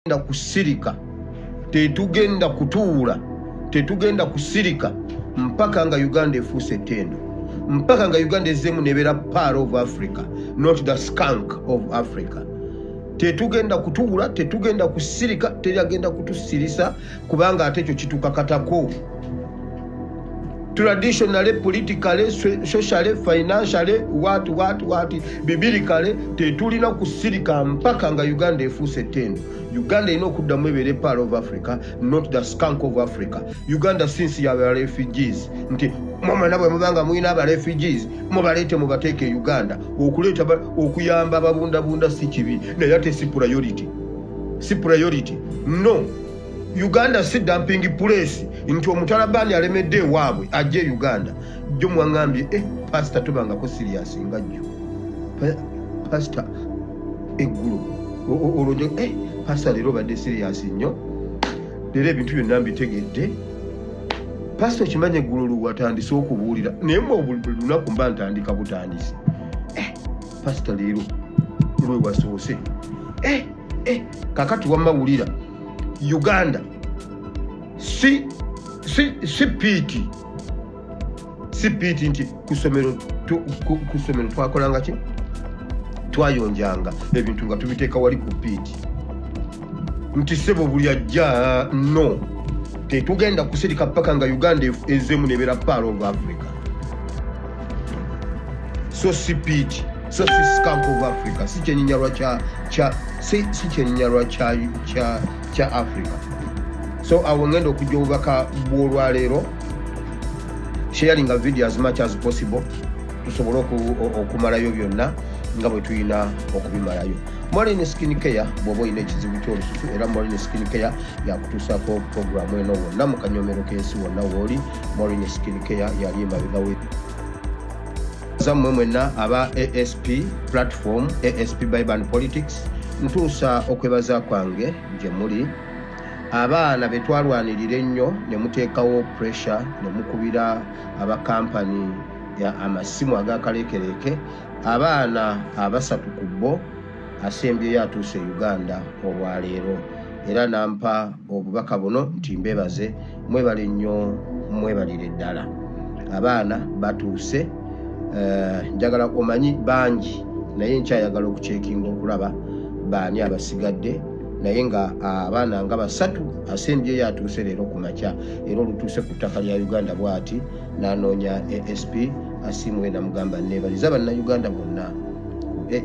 tetugenda kusirika tetugenda kutuula tetugenda kusirika mpaka nga uganda efuuse ettendo mpaka nga uganda ezeemu nebeera par of africa not the skank of africa tetugenda kutuula tetugenda kusirika teri agenda kutusirisa kubanga ate ekyo kitukakatako traditionally politically socially financially wat wat wat bibiri kale tetulina kusirika mpaka nga uganda efuuse tendo uganda erina okuddamu ebeere part of africa not the skank of africa uganda since yaba refugees nti mwamana bwe mubanga mulina aba refugees mubaleete mubateeka e uganda okuleeta okuyamba ababundabunda si kibi naye ate si priority si priority no uganda si dumping place nti omutalabaani alemedde ewaabwe ajja e uganda jjo mwaŋambye e eh, pasita tobangako siriyasi nga jjo pasita eggulu olwojo e eh, pasita leero obadde siriyasi nnyo leero ebintu byonna mbitegedde pasita okimanyi eggulu luwatandise okubuulira naye mwe olunaku mba ntandika butandisi pasita leero lwe wasoose eh, eh, kakati wamma wulira uganda si si piiti si piiti nti kusomero kusomero twakolanga ki twayonjanga ebintu nga tubiteeka wali ku piiti nti sebo buli ajja no tetugenda kusirika paka nga uganda ezemu nebera pal of africa so sipiti so siskank of africa si kyenyinyalwa si kyenyinyalwa kya africa so awo ngenda okujja obubaka bwolwaleero sharing a video as much as possible tusobole okumalayo byonna nga bwe tulina okubimalayo Moline Skin Care bw'oba olina ekizibu ky'olususu era Moline Skin Care yakutuusaako pulogulaamu eno wonna mu kanyomero k'ensi wonna wooli Moline Skin Care yali emabega we zammwe mwenna aba asp platform asp biban politics ntuusa okwebaza kwange gye muli abaana be twalwanirira ennyo ne muteekawo pressure ne mukubira abakampani amasimu agakaleekereeke Abaana abasatu ku bo asembyeyo atuuse e Uganda olwaleero era nampa obubaka buno nti mbebaze mwebale nnyo mwebalire ddala abaana batuuse eh, njagala omanyi bangi naye nkyayagala okukyekinga okulaba baani abasigadde naye nga abaana nga basatu asembyeyo atuuse leero ku makya era olutuuse ku ttaka lya uganda bwati nanoonya asp asimuwe namugamba nebaliza bannayuganda bonna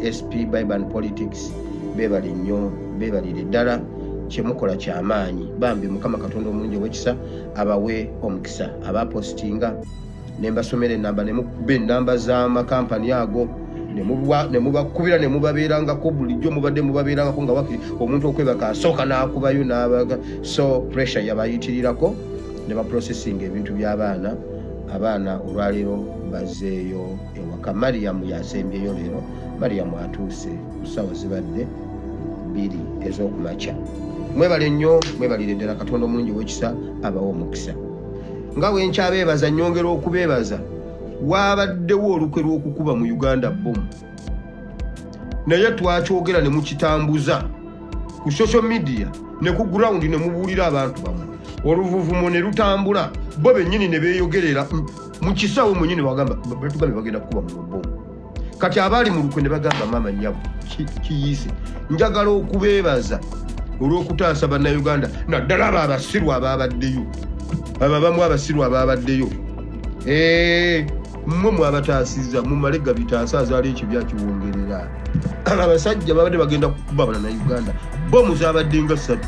asp biban politics bebali nnyo bebalire ddala kyemukola kyamaanyi bambi mukama katonda omulungi owekisa abawe omukisa abapositinga nembasomera enamba nemukuba enamba zamakampani ago nemubakubira nemubabeerangako bulijjo mubadde mubabeerangako nga wakiri omuntu okwebaka asooka nakubayo nabaga so pressure yabayitirirako ne baprocessing ebintu by'abaana abaana olwaleero bazeeyo ewaka mariyamu yasembyeyo leero mariyamu atuuse ku ssaawa zibadde bbiri ez'okumakya mwebale nnyo mwebalire ddala katonda omulungi owekisa abawa omukisa nga wenkyabeebaza nyongera okubeebaza waabaddewo olukwe lw'okukuba mu uganda bomu naye twakyogera ne mukitambuza ku social media ne ku ground ne mubuulira abantu bamwe oluvuvumo ne lutambula bo bennyini ne beeyogerera mu kisaawe mwenyini bagamba batugambe bagenda kukuba mu lubomu kati abaali mu lukwe ne bagamba maama nyabo kiyiise njagala okubeebaza olw'okutaasa bannayuganda naddala abo abasiru abaabaddeyo abo abamu abasiru abaabaddeyo eee mmwe mwabataasizza mumale gabitaasa azaala ekibi akiwongerera abasajja babadde bagenda kukuba bana na uganda bomu zabadde nga ssatu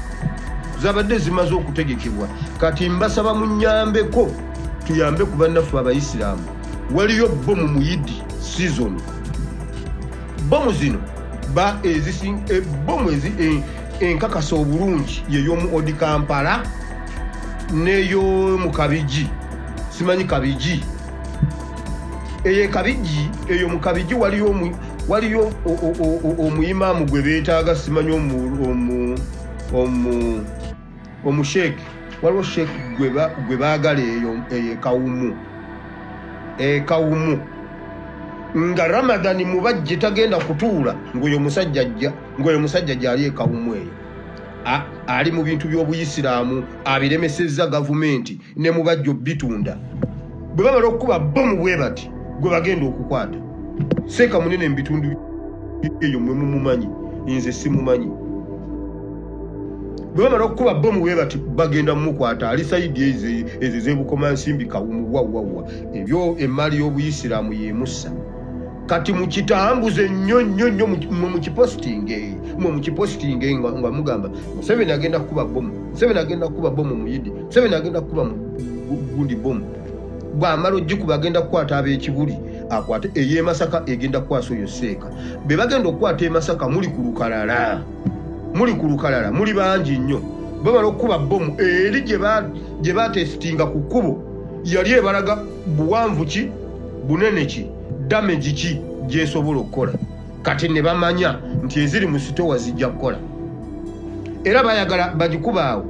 zabadde zimaze okutegekebwa kati mbasaba munyambeko tuyambe ku bannaffe abayisiraamu waliyo bomu muyidi season bomu zino ba ezisi e, bomu ezi e, enkakasa obulungi yeyomu odi kampala neyo mukabiji simanyi kabigi eyo ekabigi eyo mu kabigi waliyo waliyo omuyimaamu gwe beetaaga simanyi omusheeki waliwo sheeki gwe baagala eyo ekawumu ekawumu nga ramadhani mubajje tagenda kutuula ngaoyo musajja ajja ngaoyo musajja gyali ekawumu eyo ali mu bintu by'obuyisiraamu abiremesezza gavumenti ne mu bajjo bitunda bwe bamala okukuba bomu bwe bati gwe bagenda okukwata seeka munene mu bitundu eyo mwe mumumanyi nze simumanyi bwe bamala okukuba bomu bwe bati bagenda mumukwata ali sayidi ezo ezebukoma nsimbi kawumu wawwawa ebyo emmaali y'obuyisiraamu yemussa kati mukitambuze nnyo nnyo nnyo mwe mukipositinge mwe mukipositinge nga mugamba museveni agenda kukuba bomu museveni agenda kukuba bomu muyidi Museveni agenda kukuba mu gundi bomu bwamala ogikuba agenda kukwata ab'ekibuli akwate ey'e Masaka egenda kukwasa oyo seeka be bagenda okukwata e Masaka muli ku lukalala muli ku lukalala muli bangi nnyo bamala okukuba bomu eri gye batesitinga ku kkubo yali ebalaga buwanvu ki bunene ki damage ki gyesobola okukola kati ne bamanya nti eziri mu sitowa zijja kukola era bayagala bagikubaawo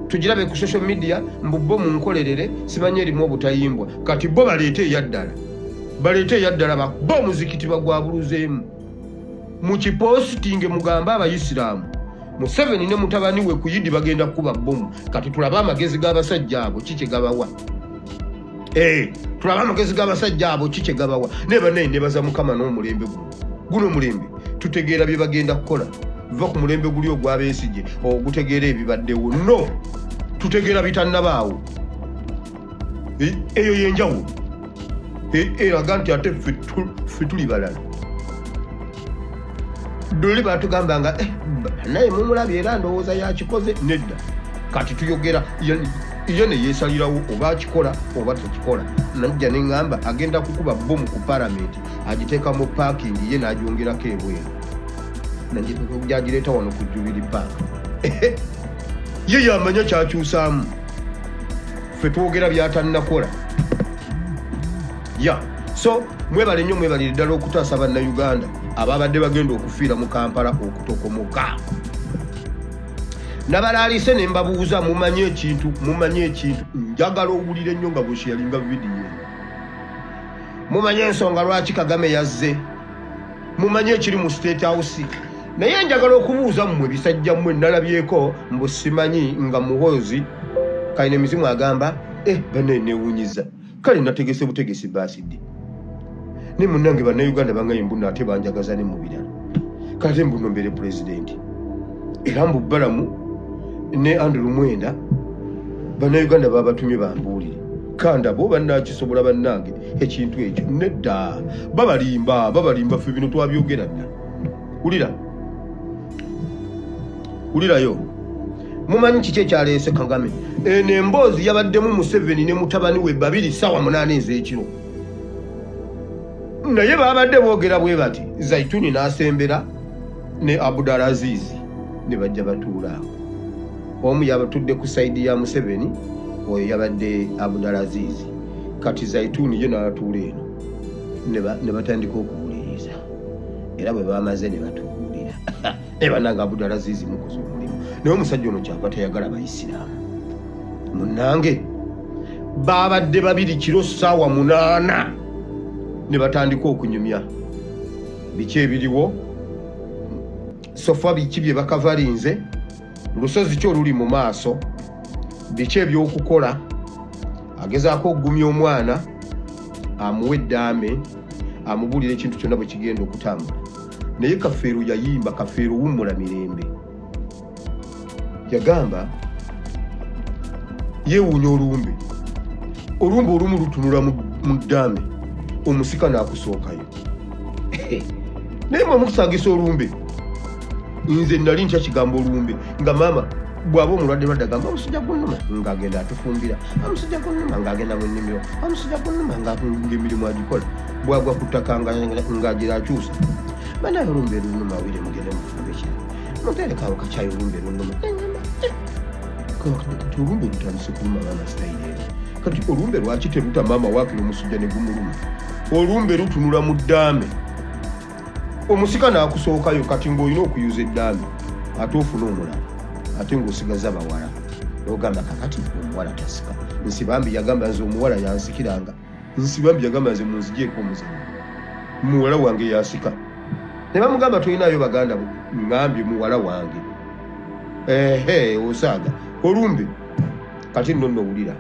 tugirabe ku social media mbubbo mu nkolerere simanyi erimu obutayimbwa kati bo baleete eyaddala baleete eyaddala bakuba omuzikiti bagwabuluzeemu mu kipositinge mugambe abayisiraamu museveni ne mutabani we kuyidi bagenda kukuba bbomu kati tulabe amagezi g'abasajja abo ki kye gabawa Eh, tulaba amagezi g'abasajja abo ki kyegabawa naye banaye nebaza mukama n'omulembe guno guno omulembe tutegeera bye bagenda kukola va ku mulembe guli ogwabesigye ogutegeera ebibaddewo no tutegeera bitannabaawo eh, eyo yenjawulo eh, eraga nti ate fetuli balala luli batugamba nga eh, naye mumulabi era ndowooza yakikoze nedda kati tuyogera ye neyesalirawo oba akikola oba tekikola najja neŋamba agenda kukuba bomu ku paramenti agiteeka mu paakingi ye nagyongerako ebweru najagireeta wano ku jubiri paak ye yamanya kyakyusaamu fe twogera byatanakola ya so mwebale nnyo mwebalire ddala okutaasa bannayuganda ababadde bagenda okufiira mu kampala okutokomoka nabalaalise ne mbabuuza mumanyi ekintu mumanyi ekintu njagala owulire nnyo nga bwesheyalinga vidiyo mumanyi ensonga lwaki kagame yazze mumanyi ekiri mu state house naye njagala okubuuza mmwe bisajja mmwe nalabyeko mbusimanyi nga muhoozi kaine mizimu agamba eh, bane newunyiza kale nategese butegesi baasidi ne munange bannayuganda bangaye mbuno ate banjagaza ne mu birala kate mbuno mbeere pulezidenti era mbu balamu ne andrew mwenda bannayuganda babatumye bambuulire kandabo bannakisobola bannange ekintu ekyo nedda babalimba babalimba ffe bino twabyogera dda wulira wulirayo mumanyi kiki ekyaleese kagame eno emboozi yabaddemu museveni ne mutabani we babiri saawa munaana ez'ekiro naye babadde boogera bwe bati zaituni n'asembera ne abudal aziizi ne bajja batuula awo omu yabatudde ku saidi ya museveni oyo yabadde abudal aziizi kati zaituni ye n'atuula eno ne batandika okuwuliriza era bwe bamaze ne batubuulira naye banange abudala ziizi mukoze omulimu naye omusajja ono kyava tayagala bayisiraamu munange baabadde babiri kiro ssaawa munaana ne batandika okunyumya biki ebiriwo sofa biki bye bakavalinze lusozi ki oluli mu maaso biki ebyokukola agezaako okugumya omwana amuwa eddaame amubuulira ekintu kyonna bwe kigenda okutambula naye kafeero yayimba kafeero wummula mirembe yagamba yeewuunya olumbe olumbe olumu lutunula mu ddaame omusika n'akusookayo naye mwe mukusangisa olumbe nze nali nkyakigambo olumbe nga maama bwaba omulwadde lwadde agamba omusajja gunuma ng'agenda atufumbira omusajja gunuma ng'agenda mu nnimiro omusajja gunuma ng'emirimu agikola bwagwa ku ttaka ng'agira akyusa banaye olumbe lunuma awire mugende mufumbe ki muterekawo kakyayi olumbe lunuma kati olumbe lutandise kuluma abaana sitayire eri kati olumbe lwaki teruta maama waakira omusujja ne gumuluma olumbe lutunula mu ddaame omusika nakusookayo kati ngaolina okuyuza eddaami ate ofuna omulala ate ngaosigaza bawala ogamba kakati omuwala tasika nsibambi yagamba nze omuwala yansikiranga nsibambi yagamba nze munzijeeko omuzanyo muwala wange yasika ne bamugamba tolinayo baganda bo ngambye muwala wange ehe osaaga olumbe kati nno nowulira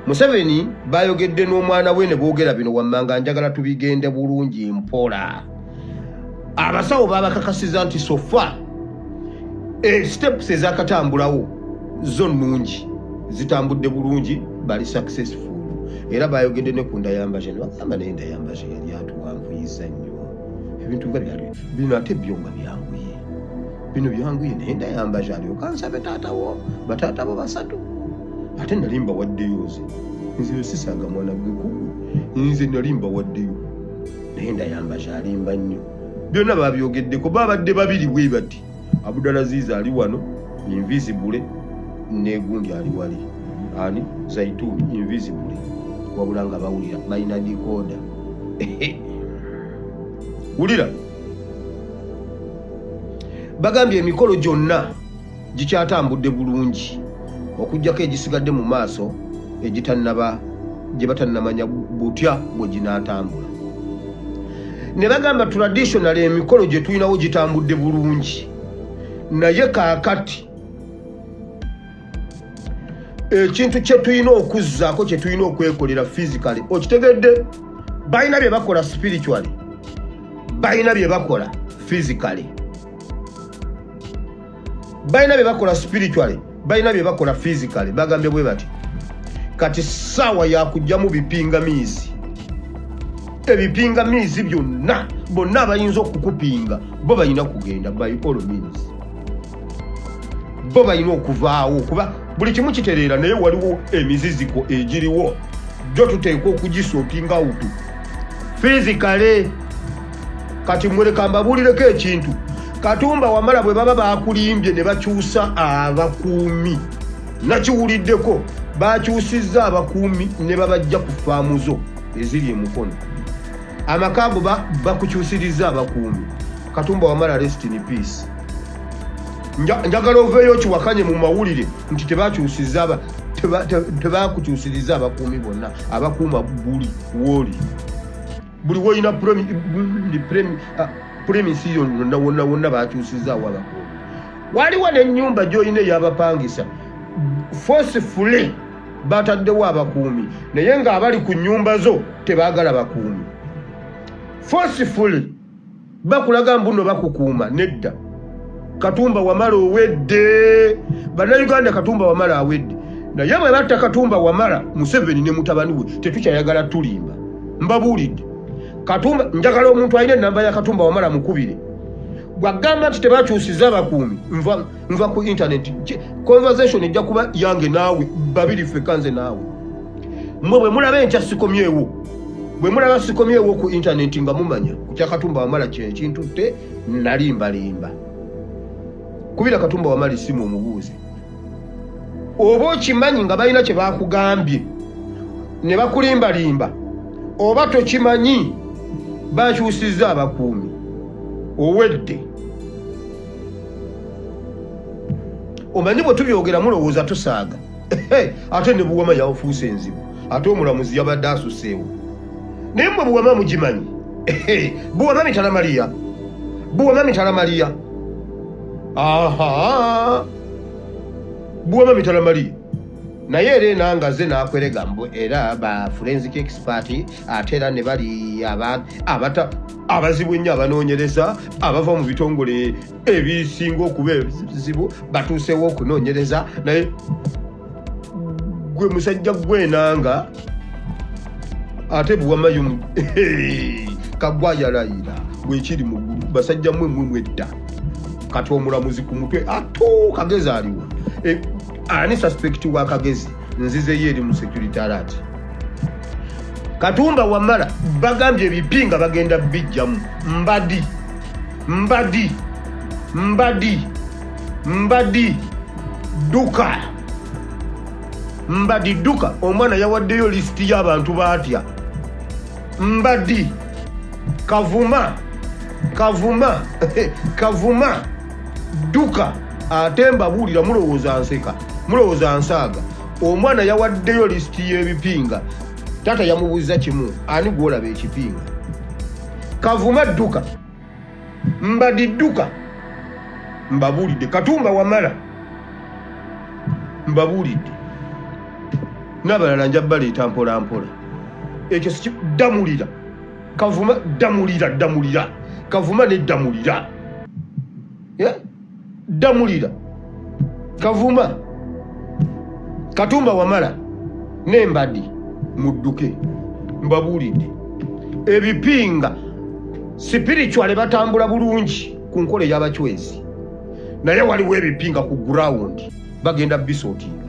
museveni bayogedde n'omwana we ne boogera bino wammanga njagala tubigende bulungi mpola abasawo babakakasiza nti sofa eh, steps ezakatambulawo zo nnungi zitambudde bulungi bali successful era bayogedde ne ku ndayambaje nebagamba naye ndayambaje yali atuwanvuyiza nnyo ebintu nga byali bino ate byo nga byanguye bino byanguye naye ndayambaje alyoka nsabe taata wo bataata bo basatu ate nali mbawaddeyo nze nze yosisaga mwana gwe kuku nze nali mbawaddeyo naye ndayambaje alimba nnyo byonna babyogeddeko babadde babiri bwe bati abudalaziiza ali wano invisibule negundi ali wali ani zaituuni invisibule wabula nga bawulira balina dikoda wulira bagambye emikolo gyonna gikyatambudde bulungi okugyako egisigadde mu maaso egitannaba gye batannamanya butya bwe ginaatambula ne bagamba traditional emikolo gye tulinawo gitambudde bulungi naye kaakati ekintu kyetulina okuzzaako kyetulina okwekolera physically okitegedde balina bye bakola spiritually balina bye bakola physically balina bye bakola spiritually balina bye bakola physically bagambye bwe bati kati saawa yakugyamu bipingamiizi ebipingamiizi byonna bonna abayinza okukupinga bo balina kugenda by all means bo balina okuvaawo kuba buli kimu kitereera naye waliwo emiziziko egiriwo jo tuteekwa okugisotinga utu fiizi kale kati muleka mbabuulireko ekintu katumba wamala bwe baba bakulimbye ne bakyusa abakuumi nakiwuliddeko bakyusizza abakuumi ne babajja ku faamu zo eziri emukono amaka ago bakukyusirizza abakuumi katumba wamala rest in peace njagala oveeyo kiwakanye mu mawulire nti tebakyusiza tebakukyusiriza abakuumi bonna abakuuma buli wooli buli wolina premisi yo yonna wonna wonna bakyusizaawo abakuumi waliwo nenyumba gyolina eyabapangisa fosifule bataddewo abakuumi naye ng'abali ku nyumba zo tebagala bakuumi fosifule bakulaga mbuno bakukuuma nedda katumba wamala owedde bannayuganda katumba wamala awedde naye bwe batta katumba wamala museveni ne mutabani we tetukyayagala tulimba mbabuulidde katumba njagala omuntu alina enamba ya katumba wamala mukubire gwagamba nti tebakyusiza bakuumi nva nva ku intaneti conversation ejja kuba yange naawe babiri feka nze naawe mwe bwe mulaba enkya sikomyewo bwe mulaba sikomyewo ku intaneti nga mumanya kukya katumba wamala kye ekintutte nalimbalimba kubira katumba wamala esimu omubuuzi oba okimanyi nga balina kye bakugambye ne bakulimbalimba oba tokimanyi bakyusizza abakuumi owedde omanyi bwe tubyogera mulowooza tusaaga ate ne buwama yafuusa enzibu ate omulamuzi yabadde asuseewo naye mwe buwama mugimanyi buwama mitala maliya buwama mitala maliya aha buwama mitala maliya naye era enanga ze nakwerega mbu era ba forensic expert ate era ne bali abata abazibu ennyo abanoonyereza abava mu bitongole ebisinga okuba ebizibu batuuseewo okunoonyereza naye gwe musajja gwenanga ate buwamayo kagwa yalayira wekiri mugulu basajja mwe mwe mwedda kati omulamuzi ku mutwe atuukagezi aliwo e, ani suspect wa kagezi nzizeyo eri mu security alert katumba wamala bagambye ebipi nga bagenda bijjamu mbadi mbadi mbadi mbadi duka mbadi duka omwana yawaddeyo lisiti y'abantu baatya mbadi kavuma kavuma kavuma dduka ate mbabuulira mulowooza nseka mulowooza nsaaga omwana yawaddeyo lisiti y'ebipinga taata yamubuuza kimu ani gwolaba ekipinga kavuma dduka mbadi dduka mbabuulidde katumba wamala mbabuulidde n'abalala nja baleeta mpolampola ekyo sikiddamulira kavuma damulira damulira kavuma ne damulira yeah? damulira kavuma katumba wamala nembadi mudduke mbabuulidde ebipinga sipiricuale batambula bulungi ku nkola eyabacwezi naye waliwo ebipinga ku gurawundi bagenda bisootinga